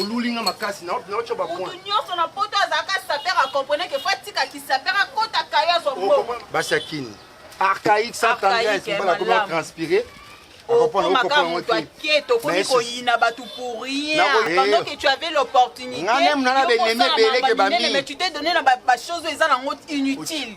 oluli nga makasi naotya bamotu nyonso na poto azalaka saper akompone ke fo atika kisaper akota kayo azwa mbongo basi ya kini archaïque sans tendresse mbala akomi atranspire okomaka moto ake tokomi koyina bato pour rien pendant que tu avais l'opportunité mais tu t'es donné na bachose oyo eza nango inutile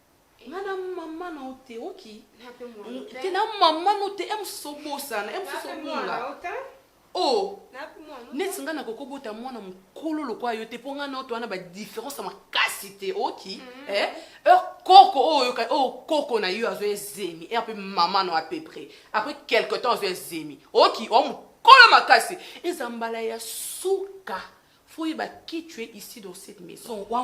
nga na mama na yo te oki te na mama no te emususu obosana emususu obunga o oh. neti nga nakoki obota mwana mokolo lokola yo te mpo nga na yo towana badifference ya makasi te oki mm. eh? heure koko oyo oh, oh, koko na yo azwa ezemi heure mpe mama no à peu près après quelque temps azwa ezemi oki o mokolo makasi eza mbala ya suka foyeba kitue ici dans cette maison wa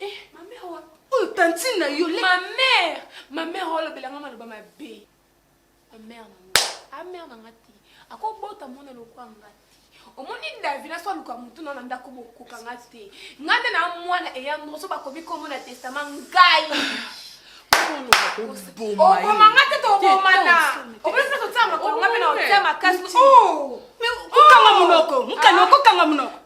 Eh, ma mère wa. Oyo oh, tantine na yo. Ma mère, ma mère olobela nga maloba mabe. Ma mère na nga. Ah mère na nga te. Akobota mwana lokwa nga te. omoni davina so aluka motu na na ndako bokoka nga te nga nde na mwana eya ndoso bakomi kombo na testama ngai oboma nga te tobomana obonisa totia makolo nga mpe na otia makasi okanga monoko mokani okokanga monoko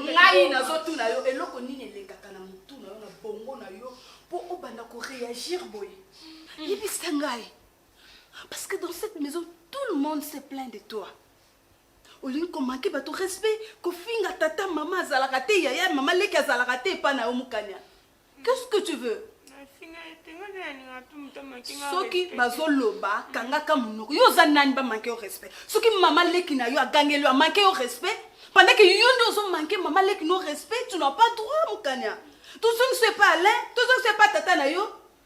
ngai nazotuna yo eloko nini elekaka na motu na yo na bongo na yo mpo obanda koreagir boye yebisa ngai parce que dans cette maison tout le monde se plaint de toi olingi komanke bato respect kofinga tata mama azalaka te yaya mama leki azalaka te epa na yo mokanya qu'est-ce que tu veux soki bazoloba kangaka monoko yo oza nani bamanke yo respect soki mama leki na yo agangeli yo amanke yo respect pendant ke yo nde ozomanke mama leki no respect tu n'as pas droit mokanya tozongiso epa alain tozongiso epa tata na yo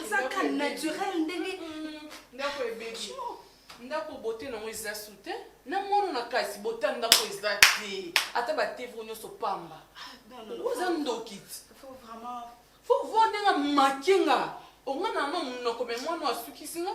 azaka naturel ndenge mm, ndako ebebi ndako bote nango eza su te na mwana na kasi bota ndako eza te ata batevre nyonso pamba ah, oza ndoki ti fo vo ndenge make nga onga na yango monoko me mwana asukisi nga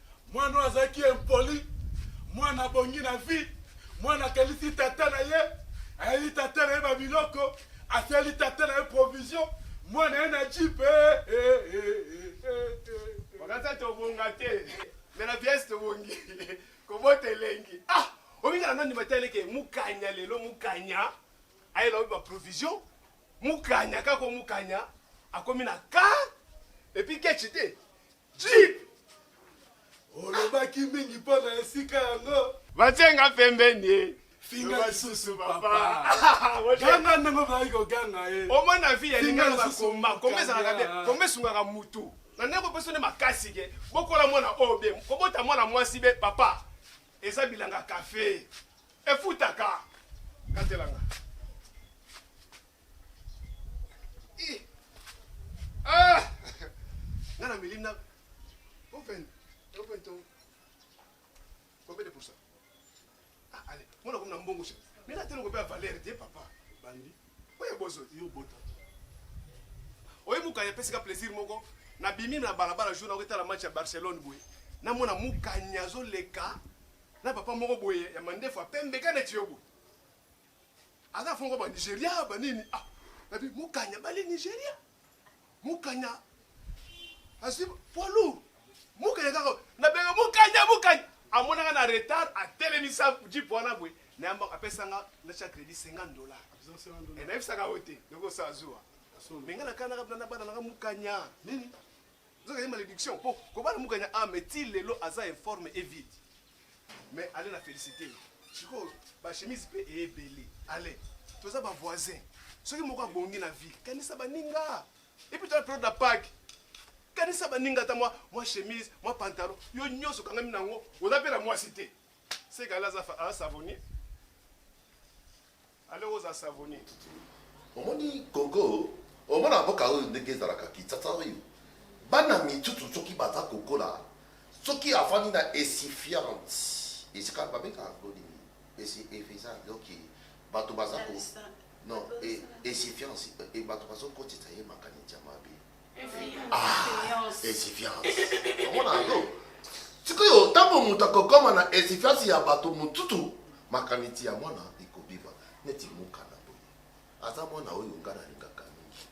Mwana oyo azalaki impoli, mwana abongi na vie, mwana akelisi tata na ye, ayeli tata na ye babiloko, asali tata na ye provision, mwana ye na jipe makasa tobonga te me na pièce tobongi kobota elengi ah omingana nani bataleke mukanya lelo mukanya ayela oyo baprovision mukanya kaka mukanya akomi na ka epuis kechi te Jeep! Olobaki mingi mpo na esika yango. Batie nga pembeni ye. Finga Loba lisusu lisusu, papa. papa. Olie. Ganga ndenge ozalaki koganga ye. omona vi ya Finga lingala lisusu bakoma koma mokanda. ezalaka bien koma esungaka mutu na ndenge kopesa nde makasi ke bokola mwana oyo be kobota mwana mwasi be papa eza bilanga kafe efutaka katelanga Ah! Nga na meli na open open to combien de pourcent ah allez mona comme na mbongo chez mais là tellement combien valeur de papa bandi oye bozo yo bota oye mukanya pesi ka plaisir moko na bimi na balabala jour na ko tala match ya Barcelone boye na mona mukanya zo leka na papa moko boye ya mandefu apembe kana tiyo boye aza fongo ba nigeria ba nini ah nabi mukanya bali nigeria mukanya asi poids lourd mukanya kaka nabenga mukanya mukanya amonaka na retard atelemisa jipe wana boye nayamba apesanga natya crédit 50 dollar eh, nayebisaka yo te ndeko osa azuwa me nga nakanaka bana bana nanga mukanya nini Nzoka ye malédiction po kobala mukanya a mais ti lelo aza informe et vide. Mais allez na féliciter. Siko ba chemise pe e ebele. Allez, toza ba voisins. Soki moko abongi na vie, kanisa baninga. Et puis toi période la Pâques. Kanisa baninga ta moi, moi chemise, moi pantalon. Yo nyoso kangami nango, oza pe na moi cité. C'est qu'Allah a savonné. Allez oza savonne. Omoni Congo, omona mboka oyo ndenge ezalaka Kinshasa oyo. Bana mitutu soki baza kokola, soki afandi na esifiante, esika babengaka yango nini? Esi efeza donc bato baza ko non esifiance bato bazokotisa ye makanisi ya mabe. esifiance ah, omona yango sikoyo ntango moto akokoma na esifiance ya bato motutu makanisi ya mwana ekobima neti mokana boye aza mwana oyo nga nalingaka mingi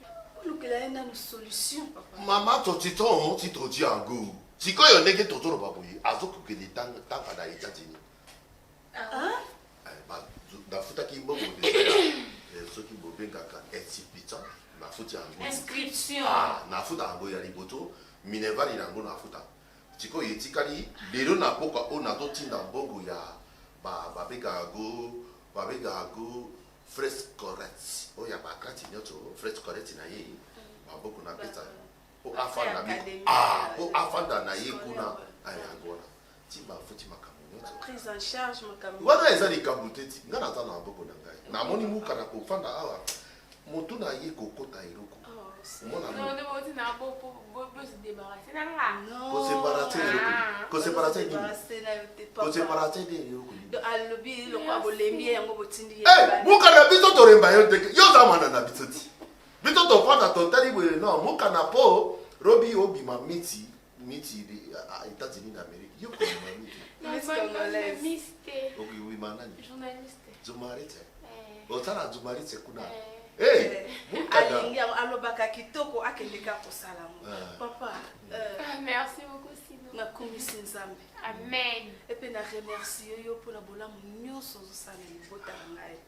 olukela ye nano solution papa mama totiton ti todi yango sikoyo ndenge tozoloba boye azokokende tanga na etats-unis bafutaki mbongo soki bobengaka insipita nafuti yango inscription ah, nafuta yango ya liboto minerval na yango nafuta sikoyo etikali lelo na mboka oyo nazotinda mbongo ya babengaka yango babengaka yango frais correct oyo ya bakrati nyonso frais correct na ye maboko napesa po afanda ah po afanda na ye kuna ayango wana ti bafuti makambo nyonso wana eza likambo te ti ngai naza na maboko na ngai namoni muka na kofanda awa motu na ye kokota eloko muka na biso toremba yo ndeke yo oza mwana na biso ti Biso tovanda totali boye no mukana po robi obima miti miti Etats-Unis d'Amérique yo kobima miti okobima nani journaliste otala journaliste kuna eh. alingi eh, alobaka kitoko akende ka kosala yango ah. papa ah, euh, merci beaucoup nakumisi nzambe amen epe na remercie yo mpo na bolamu nyonso ozosala libota na ngai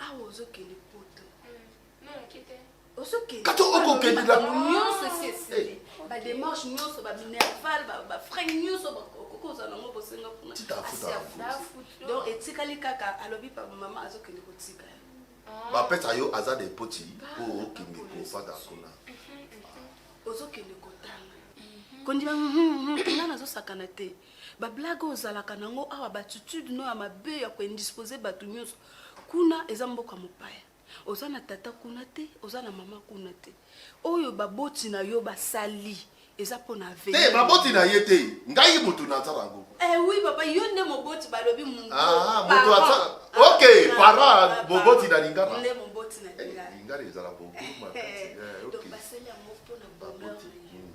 awa ozokende poto kato okokende na nyonso esi esili bademarche nyonso baminerval bafrai nyonso bakokozwa nango bosenga kuna donc etikali kaka alobi papa mama azokende kotika bapesa yo aza de poti po okende kofanda kuna ozokende kotanga kondima nga nazosakana te ba blague oyo ozalaka na yango awa baatitude no ya mabe ya koindispose bato nyonso kuna eza mboka mopaya oza na tata kuna te oza na mama kuna te oyo baboti na yo basali eza mpo na te eh, baboti na ye te ngai motu nazala yango eh, oui papa yo nde moboti balobi motu ah, ah, ok ah, para moboti na lingala nde moboti na lingala eh, lingala ezala boboma basali yango mpo na bonheur hmm.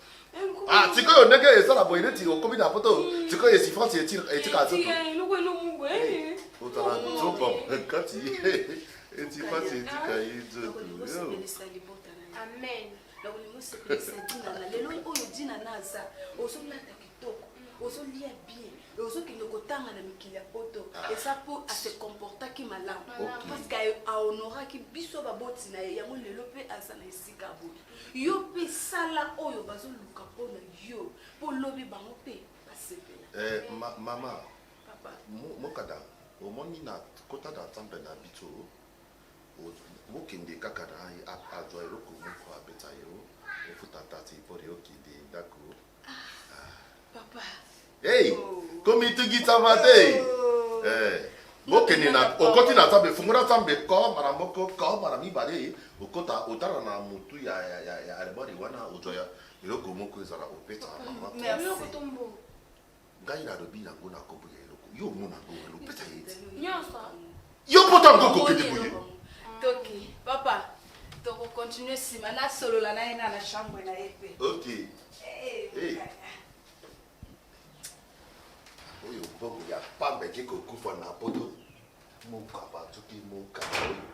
Ah, sikoyo ndenge esala boye neti okomi na poto hmm. sikoyo esifrance etika nzoto otala nzoba kati esifrance etika ye nzoto amen nakolingi osepelisa dina na lelo oyo dina na aza ozolata kitoko ozolia bien ozokende kotanga na mikili ya poto ah. eza mpo ase comportaki malamu parceke ahonoraki biso baboti na ye yango lelo mpe aza na esi esika boye yo mpe sala oyo bazoluka mpo na yo mpo lobi bango mpe basepela eh, ma, mama mokada omoni na kota na nzambe na biso bokende kaka na azwa eloko moko abeta yo ofuta tati mpona okende ndako Hey, komitungisa ba te. Eh, bokende na okoti na nzambe fungola nzambe ko mara moko ko mara mibale okota otala na motu ya, ya, ya, ya albari wana ozwa ya eloko moko ezala opesa mama Merci. ngai nalobi nango na kombo ya eloko yo omona ngo wana opesa ye ti nyonso yo mpota ngo kokende boye toki papa tokokontinue nsima nasolola na ye na na chambre na ye mpe ok eh, eh, eh. oyo mbongo ya pamba eke kokufa na poto mokaba toki mokaba oyo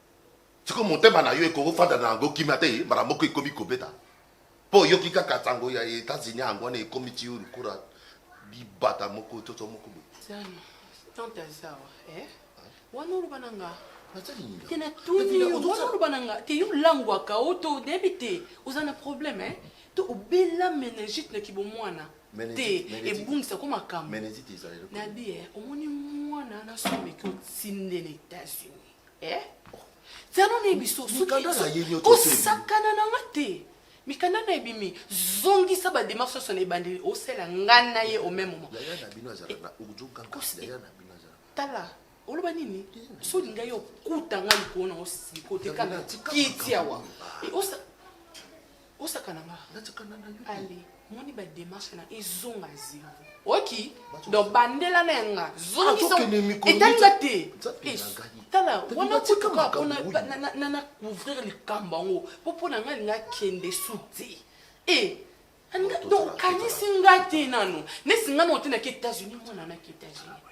Siko motema na yo ekoki kofanda na yango kima te mbala moko ekomi kobeta mpo oyoki kaka nsango ya Etats-Unis yango wana ekomi ti yo lokola libata moko toto moko boye. Zanu, tante azawa eh? wana oloba na nga te natuni yo wana oloba na nga te yo olangwaka o to nayebi te oza na problème eh? to obela meningite na kibomwana te ebungisa ko makambo nabi eh, omoni mwana nasomeki otinde na états-unis eh? zano na biso kosakana na nga te mikanda na ebimi zongisa bademar soso na ebandeli osala nga na ye au même moment tala oloba nini so olinga ye okuta nga likolo na osiko te kaka kiti awa osakana nga nasakana na yo ale moni ba démarche na ezonga zero oki donc bandela na nga zongisaetali nga te tala wana kutuka pona na couvrir likambo yango mpo mpo na nga linga kende su te e donc kanisi nga te nano nesi nga nao te naki états-unis mwana naki états-unis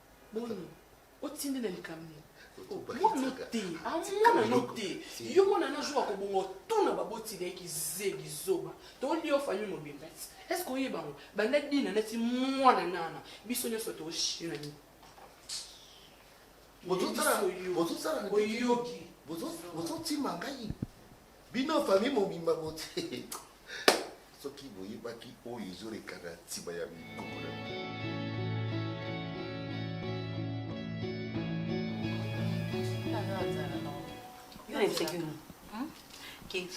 boni otindi na likambo nini mwana te amwana no te yo mwana na jour akobonga otuna baboti na ye kizeli zoba toli yo famille mobimba est ce que oyeba yango banda dina neti mwana nana biso nyonso toshina nini oyoki bozotima ngai Bino famille mobimba bote soki boyebaki oyo ezorekana nsima ya mikoko na bino.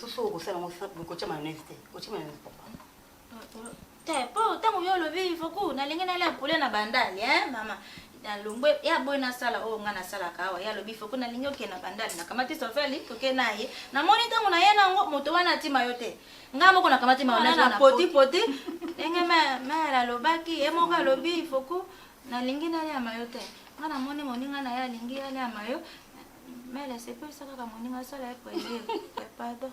Soso okosala yango bokotia mayonnaise te, otia mayonnaise papa. te po ntango yo olobi foku nalingi nalia poulet na bandali eh mama nalongwe ye aboyi nasala oyo ngai nasalaka awa ye alobi foku nalingi okende na bandali nakamati sofeli toke na ye namoni ntango na ye nango moto wana atima yo te ngai moko nakamati maona poti poti ndenge mere alobaki ye moko alobi foku nalingi naliama yo te ngai namoni moninga na ye alingi aliama yo mere asepelisa kaka moninga asala ye plaisir pardon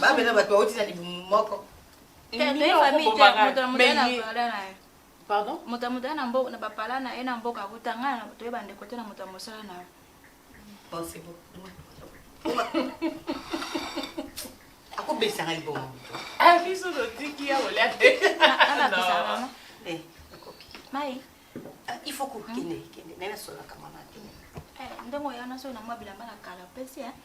babe na bato bauti na libumu moko moto ya motala na bapala na ye na mboka akuta ngai na bato ye bandeko te na moto ya mosala na yo akobebisa ngai libongo ah, biso totiki ya kolia te mai ah, il faut kokende kende naye nasolaka mama te eh, ndenge oya naso na mwa bilamba na kala pesi eh.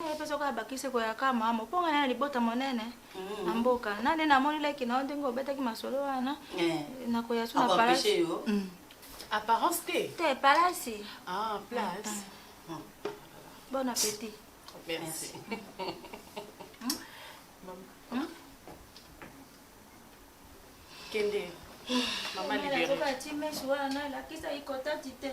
Ngai mpe soki abakisi ekoya kaka malamu mpo ngai na libota monene mm. na mboka na nde namoni leki na yo ndenge obetaki masolo wana eh. nakoya so na palasi mm. apparence te te palasi ah, place mm. bon appétit merci kende mama libere wana nalakisa ikotati te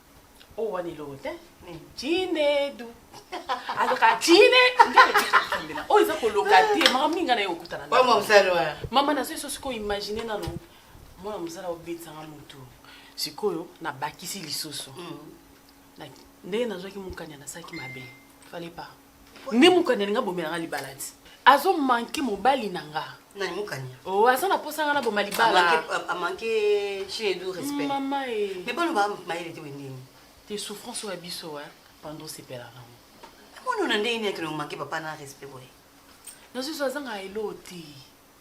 oyo oh, wana eloko te chinedu azoka chine ndeoyokambela oyo eza koloka te mama minga na ye okutana mama nazo eso sikoyo imagine nano mwana mosala obetisanga motu sikoyo nabakisi lisusu mm. ndenge nazwaki mokanya nasalaki mabe fale pas nde mukani alinga bomela nga libala ti azo manke mobali na nga nani mukania oh aza na posa nga na boma libala amanke chez edu respect mama e mais baloba mayele te wendeni te souffrance oyo ya biso e pando osepela nango amoni ona ndenge nini akende komanke papa na respect boye nazozwa azanga elo te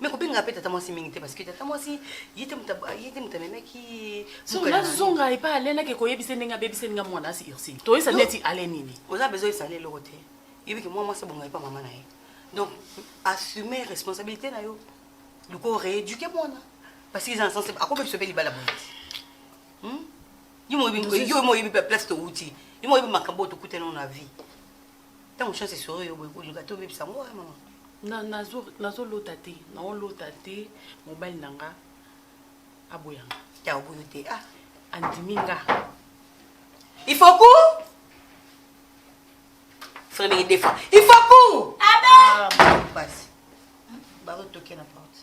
mais kobenga mpe tata mwasi mingi te parce que tata mwasi ye te moto amemaki nazonga epai alene ake koyebisa ndenge abebisa ndenge mwana asi ursine toyesa neti ale nini oza bezo esale eloko te yebiki mwa mwasi abonga epai mama na ye donc assume responsabilité na yo luka oreéduke mwana parce que eza na sense akobebisa mpe libala boye hmm? yo moyebi place towuti yo moyebi makambo oyo tokutana na vie ntango chance esoro yo boye kolinga te obebisa yango oya mama nazolota te naolota te mobali na nga aboyanga ya oboyo te ah. andimi nga ifoku frère ndenge defa ifoku ah, basi bazotoke na porte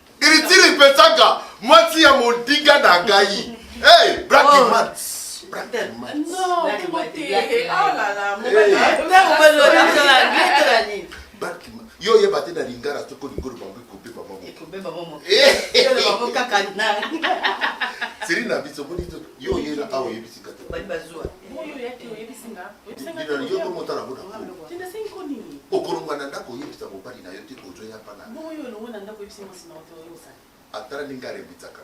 Iritiri ipesaka mwasi ya modiga na ngai. Hey, black oh. mats. yo oyeba te na lingala soko olingi oloba ngo ekobeba mamokaka seri na biso yo oyela awa oyebisi kata okolongwa na ndako oyebisa mobali na yo te ozoya pana atala ndenge arembisaka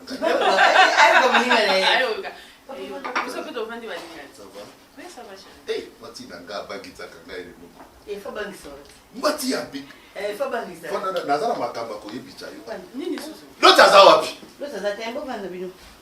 mwati na nga abangisaka ngai eloko mwati ya bika eh, naza na makambo akoyebisa yo loti aza wapi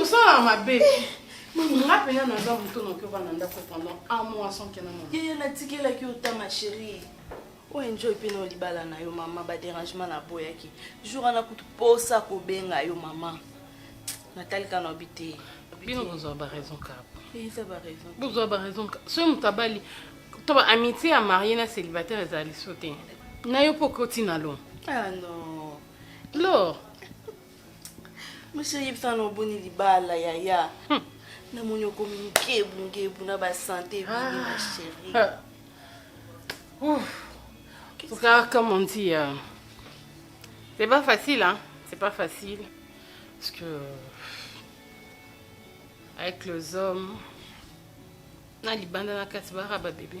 Osala mabe. Nga pena naza moto noki oba na ndako pendant un mois sans kena mama. Yeye natikelaki yo ta ma chérie. o enjoy mpe na libala na yo mama baderangement naboyaki jour wana kutu posa kobenga yo mama natalika na obi te bino bozwa baraison kaka bozwa baraison soki moto abali to ba amitié ya marie na célibataire ezala liso te na yo mpo okoti na lo ah, lor monsieur yebisa na oboni libala yaya hmm. namoni okomi ngebu ngebu na basante ebini ma chérie Regarde comme on dit, euh, c'est pas facile, hein. C'est pas facile. Parce que avec les hommes, na libanda na kasi baraba bébé.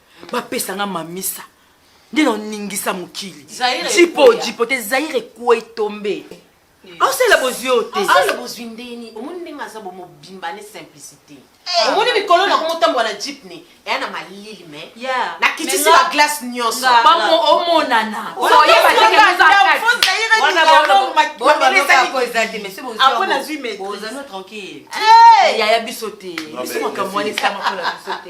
bapesa nga mamisa nde naoningisa mokili jipo jipo te zaire ekwei tombe osala bozwi oyo te osala bozwi ndeni omoni ndenge aza bomobimba ne simplicité eh. omoni mikolo na komotambola na jipne eya na malili me nakitisi baglace nyonso omonana tranquille yaya biso te biso makambo wana esalama mpo na biso te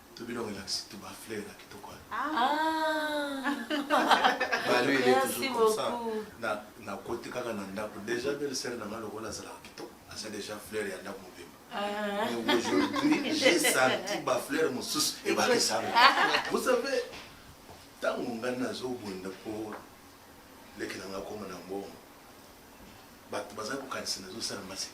To bino relax to ba fleur na kitoko wana. Ah. Balu il est toujours comme ça. Na na koti kaka na ndako déjà belle sœur na ngalo kola zala kitoko. Asa déjà fleur ya ndako mobimba. Ah. Mais aujourd'hui j'ai senti ba fleur mosusu et ba kesanga. Ah. Vous savez tango ngai nazobunda mpo leki na ngai akoma na mbongo bato bazali kokanisa nazosala maseki